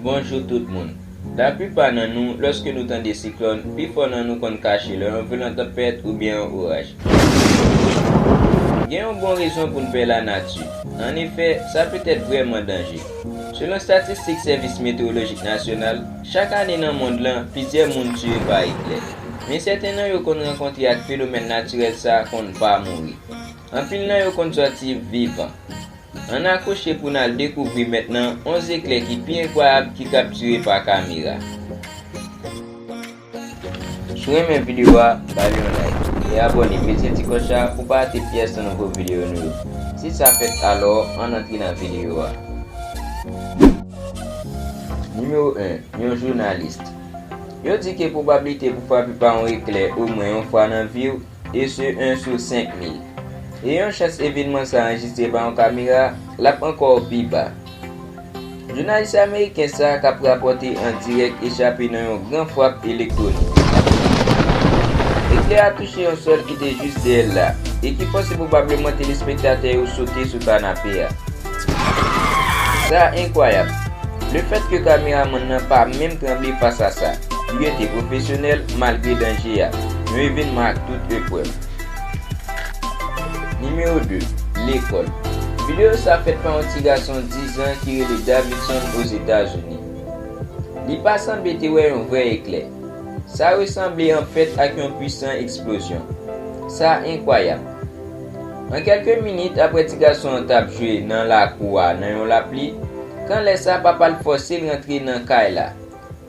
Bonjou tout moun. La plipa nan nou, lòske nou tande siklòn, pifò nan nou konn kache lè yon vyolan tanpèt oubyen yon oraj. Gen yon bon rezon pou n pè lanati. An efè, sa petèt vrèman danje. Selon statistik Sèvis Metewolojik Nasyonal, Chak ane nan mond lan, plizyè moun tiye pa eklè. Men sèten nan yo konn rankontre ak fenomèn natirèl sa konn pa mouri. Anpil nan yo konn sòti vivan. Ann akwoche pou n al dekouvri mentnan 11 eklè ki pi enkwayab ki kaptire pa kamera. Si w renmen videyo a, ba li yon like. E abòne, peze ti klòch la pou w pa rate pyès nan nouvo videyo nou yo. Si sa fèt alò, ann antre nan videyo a. Nimewo 1, Yon jounalist. Yo di ke pwobablite pou frape pa yon eklè omwen yon fwa nan vi w, e se 1 sou 5000. E yon chans evenman sa anrejistre pa yon kamera, l ap ankò pi ba. Jounalis ameriken sa k ap rapòte an dirèk echape nan yon gran frap elektwonik. Eklè a touche yon sòl ki te jis dèyè l la, e ki fòse pwobableman telespektatè yo sote sou kanape a. Sa enkwayab! Le fèt ke kameramann nan pa menm tranble fas a sa, li rete pwofesyonèl malgre danje a. Yon evenman ak tout eprèv. Nimewo 2, Lekòl. Videyo sa fèt pa yon ti gason 10 an ki rele Davidson Ozetazini. Li pa sanble te wè yon vrè eklè. Sa resanble anfèt ak yon pwisan eksplozyon. Sa enkwayab! An kèlke minit apre ti gason an t ap jwe nan lakou a nan yon lapli, kan lè sa papa l fòse l rantre nan kay la.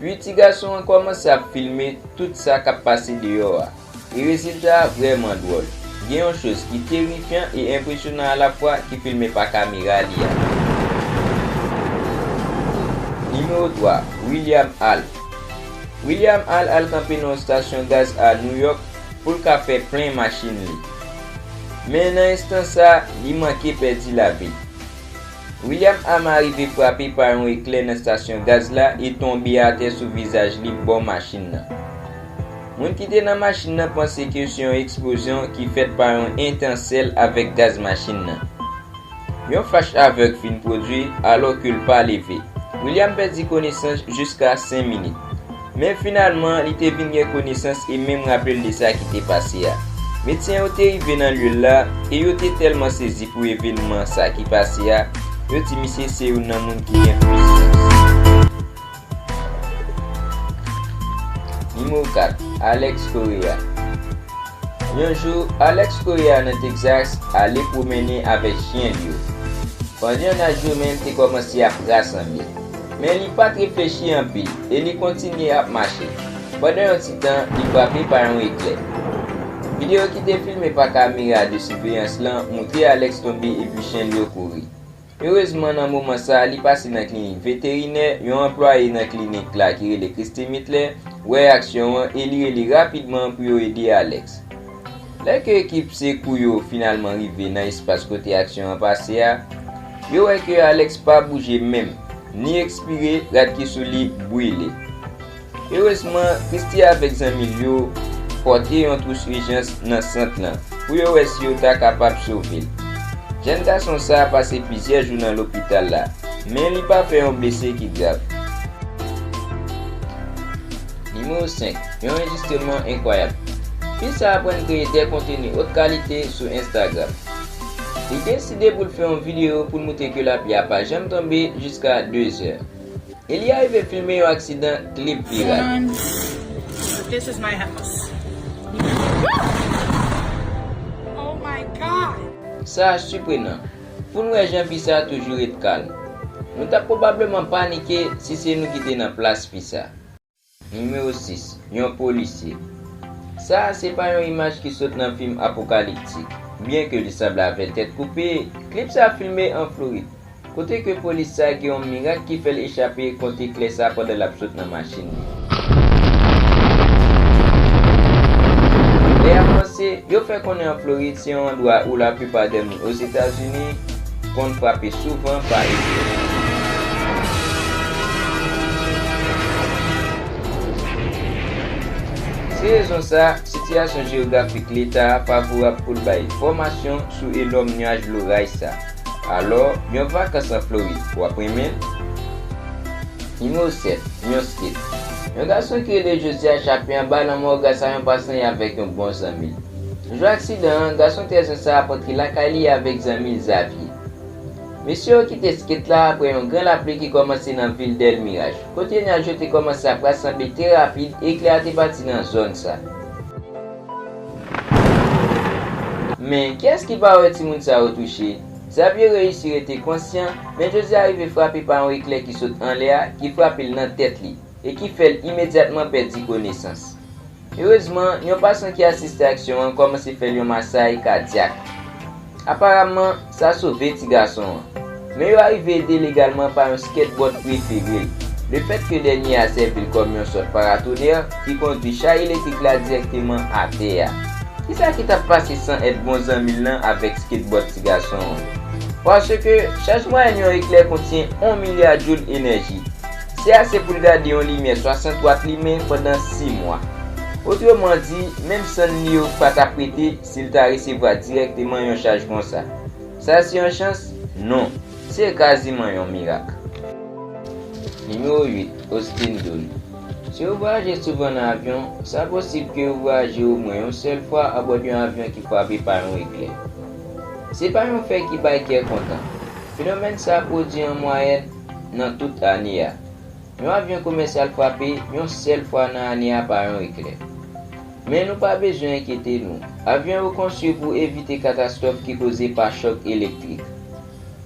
Pi ti gason an kòmanse ap filme tout sa k ap pase deyò a. E rezilta a vrèman dwòl. Gen yon choz ki terifyan e enpresyonan alafwa ki filme pa kamera li a. Nimewo 3, William Hall William Hall al kanpe nan yon stasyon gaz a Nouyòk pou l ka fè plen machin li. Men nan enstan sa, li manke pèdi lavi. William Ama rive frape pa yon eklè nan stasyon gaz la e tonbe atè sou vizaj li bò machin nan. Moun ki te nan machin nan panse ke se yon eksplozyon ki fèt pa yon etensèl avèk gaz machin nan. Yon fach avèg fin pwodui alò ke l pa leve. William pèdi konesans jiska 5 minit. Men finalman li te vin gen konesans e menm raple l de sa ki te pase a. Medsen yo te rive nan lye l la e yo te tèlman sezi pou evenman sa ki pase a, yo di misye se youn nan moun ki gen plis chans. Nimewo 4, Alex Correa Yon jou, Alex Correa nan Texas ale pwomennen avèk chyen l yo. Pandan n ap joumen l te kòmanse ap rasanble. Men li pa t reflechi anpil e li kontinye ap mache. Pandan yon ti tan, li frape pa yon eklè. Videyo ki te filme pa kamera de siveyans lan moutre Alex tonbe epi chyen l yo kouri. Erezman nan moman sa li pase nan klinik veterinè, yon anplwaye nan klinik la ki rele Christy Mitler wè aksyon an e li rele rapidman pou yo ede Alex. Lè ke ekip sekou yo finalman rive nan espas kote aksyon an pase a, yo wè ke Alex pa bouje menm, ni ekspire, rad ki sou li brile. Erezman, Christie avèk zanmi l yo pòte yon twous ijans nan sant lan pou yo wè si yo ta kapab sove l. Jèn gason sa a pase plizyè jou nan lopital la, men li pa fè yon blese ki grav. Nimewo 5, Yon anjistreman enkwayab. Fi sa a aprann kreye de konteni ot kalite sou Instagram. Li deside pou l fè yon videyo pou l moutre ke lapli a pa janm tonbe jiska 2 zè. Eli arive filme yon aksidan klib pirat. Sa siprenan pou n wè jan fi sa toujou ret kalm. Nou t ap pwobableman panike si se nou ki te nan plas fi sa. Nimewo 6, Yon polisye. Sa a se pa yon imaj ki sot nan fim apokaliptik. Byenke li sanble avèk tèt koupe, klip sa a filme an Florid, kote ke polis sa a gen yon mirak ki fè l echape kont eklè sa a pandan l ap sot nan machin li. Lè y ap panse, yo fè konnen an Florid se yon andwa ou laplipa dè moun. Ozetazini, konn frape souvan pa etranje. Se rezon sa, sitiyasyon jeyografik Leta a favorab pou l bay fòmasyon sou enòm nuaj loray sa. Alò, yon vakans an Florid, w ap renmen l? Nimewo 7, Yon skit Yon gason ki rele José a chape anba lanmò gras a yon pasan y avèk yon bon zanmi l. Jou aksidan an, gason 13 an sa a pantre lakay li avèk zanmi l Xavier. Mesye yo kite skate la aprè yon gran lapli ki kòmanse nan vil Del Mirage, kote nyaj yo te kòmanse ap rasanble trè rapid e eklè a te pati nan zòn sa. Men, kiyès ki pa wè timoun sa yo touche? Xavier reyisi rete konsyan, men José arive frape pa yon eklè ki sot anlè a, ki frape l nan tèt li, e ki fè l imedyatman pèdi konesans. Erezman, yon pasyan ki asiste aksyon an kòmanse fè l yon masay kadyak. Aparamman, sa sove ti gason an. Men yo arive ede l egalman pa yon skateboard prefere l. Lefètke dènye a sèvi l kòm yon sòt paratonè ki kondwi chay elektrik la dirèkteman atè a. Kisa ki t ap pase san èd bon zanmi l lan avèk skateboard ti gason an? Paske chaj mwayèn yon eklè kontyen on milya joul enèji. Se ase pou l gade yon limyè 60 wat limen pandan si mwa. Otreman di, menm sann li yo pa t ap rete si l ta resevwa dirèkteman yon chaj konsa. Sa se yon chans? Non. Se kaziman yon mirak. Nimewo 8, Austin Doon Si ou vwayaje souvan nan avyon, sa posib ke ou vwayaje omwen yon sèl fwa abòd yon avyon ki frape pa yon eklè. Se pa yon fè ki bay kè kontan. Fenomèn sa pwodui an mwayèn, nan tout ane a. Yon avyon komèsyal frape yon sèl fwa nan ane a pa yon eklè. Men nou pa bezwen enkyete nou. Avyon yo konstwi pou evite katastwòf ki koze pa chòk elektrik.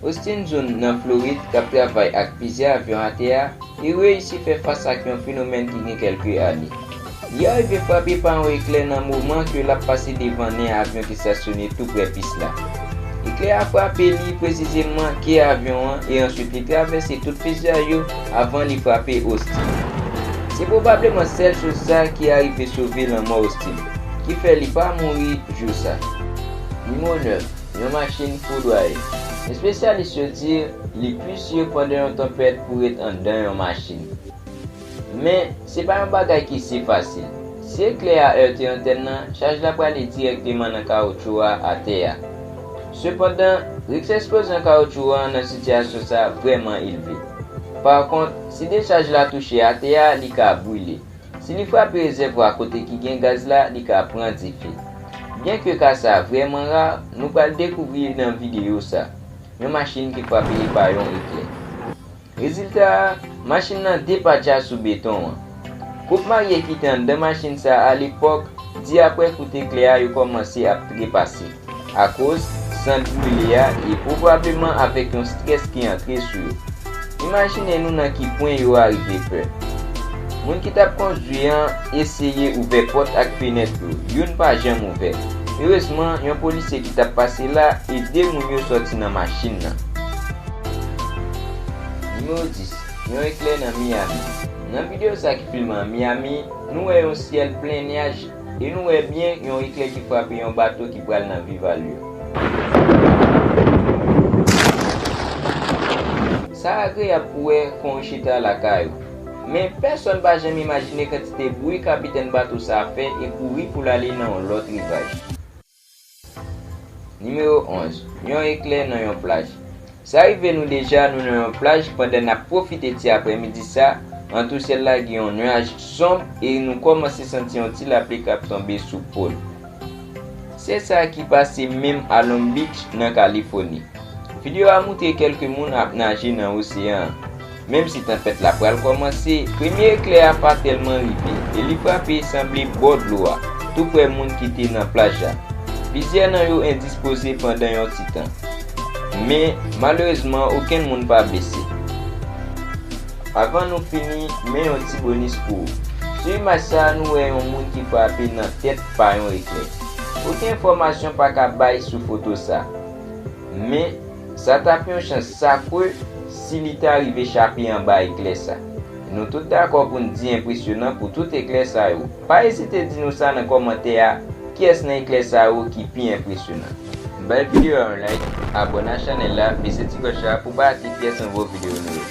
Austin Zun, nan Florid, k ap travay ak plizyè avyon atè a, te reyisi fè fas ak yon fenomèn ki gen kèlke ane. Li arive frape pa yon eklè nan moman ke lap pase devan nen avyon ki stasyone tou prè pis la. Eklè a frape li presizemman ke avyon an e answit li travèse tout fizay yo avan li frape Austin. Se pwobableman sèl chos sa ki arive sove lanmò Austin, ki fè li pa mouri jou sa. Nimo 9, Yon machin foudwaye. Espesyalis yo di li pi si pandan yon tanpèt pou ret anndan yon machin. Men, se pa yon bagay ki si fasil. Si eklè a erte antèn nan, chaj la prale dirèkteman nan kawotchou a atè a. Sepandan, riks eksplozyon kawotchou an nan sitiyasyon sa a vrèman elve. Pakont, si dechaj la touche atè a, li ka brile. Si li frape rezèvwa kote ki gen gaz la, li ka pran dife. Byenke ka sa a vrèman ra, nou pral dekouvri nan videyo sa a, yon machin ki frape pa yon eklè. Rezilta a, machin lan depatcha sou beton an. Koup marye ki te anndan machin sa a lepòk di aprè kout eklè a yo kòmanse ap trepase akoz sant brile a e pwobableman avèk yon strès ki antre sou yo. Imajine nou nan ki pwen yo arive pè. Moun ki t ap kondwi an eseye ouvè pòt ak fenèt yo, youn pa janm ouvè. Erezman, yon polisye ki t ap pase la ede moun yo sòti nan machin nan. Nimewo 10, Yon eklè nan Miyami. Nan videyo sa ki filme an Miyami, nou wè yon syèl plen nyaj e nou wè byen yon eklè ki frape yon bato ki pral nan Viva l yo. Sa agreyab pou wè kon ou chita lakay ou. Men, pèsonn pa janm imajine kantite bwi kapitèn bato sa a fè e kouri pou l ale nan yon lòt rivaj. Nimewo 11, Yon eklè nan yon plaj. Sa rive nou deja nou nan yon plaj pandan n ap pwofite ti aprèmidi sa an tou syèl la gen yon nuaj sonb e nou kòmanse santi yon ti lapli k ap tonbe sou po l. Se sa ki pase menm a Long Beach nan Kalifoni. Videyo a moutre kèlke moun ap naje nan oseyan an. Menm si tanpèt la pral kòmanse, premye eklè a pa tèlman rive, e li frape sanble bò dlo a, tou prè moun ki te nan plaj la. Plizyè nan yo endispoze pandan yon ti tan. Men, malerezman okenn moun pa blese. Avan nou fini, men yon ti bonis pou ou. Sou imaj sa a nou wè yon moun ki frape nan tèt pa yon eklè. Oken enfòmasyon pa ka bay sou foto sa. Men. Sa t ap yon chans sakre si li ta rive chape anba eklè sa. Nou tout dakò pou n di enpresyonan pou tout eklè sa yo. Pa ezite di nou sa nan kòmantè a, kiyès nan eklè sa yo ki pi enpresyonan? Bay videyo a yon like, abòne a chanèl la, pese ti klòch la pou pa rate pyès nouvo videyo nou yo.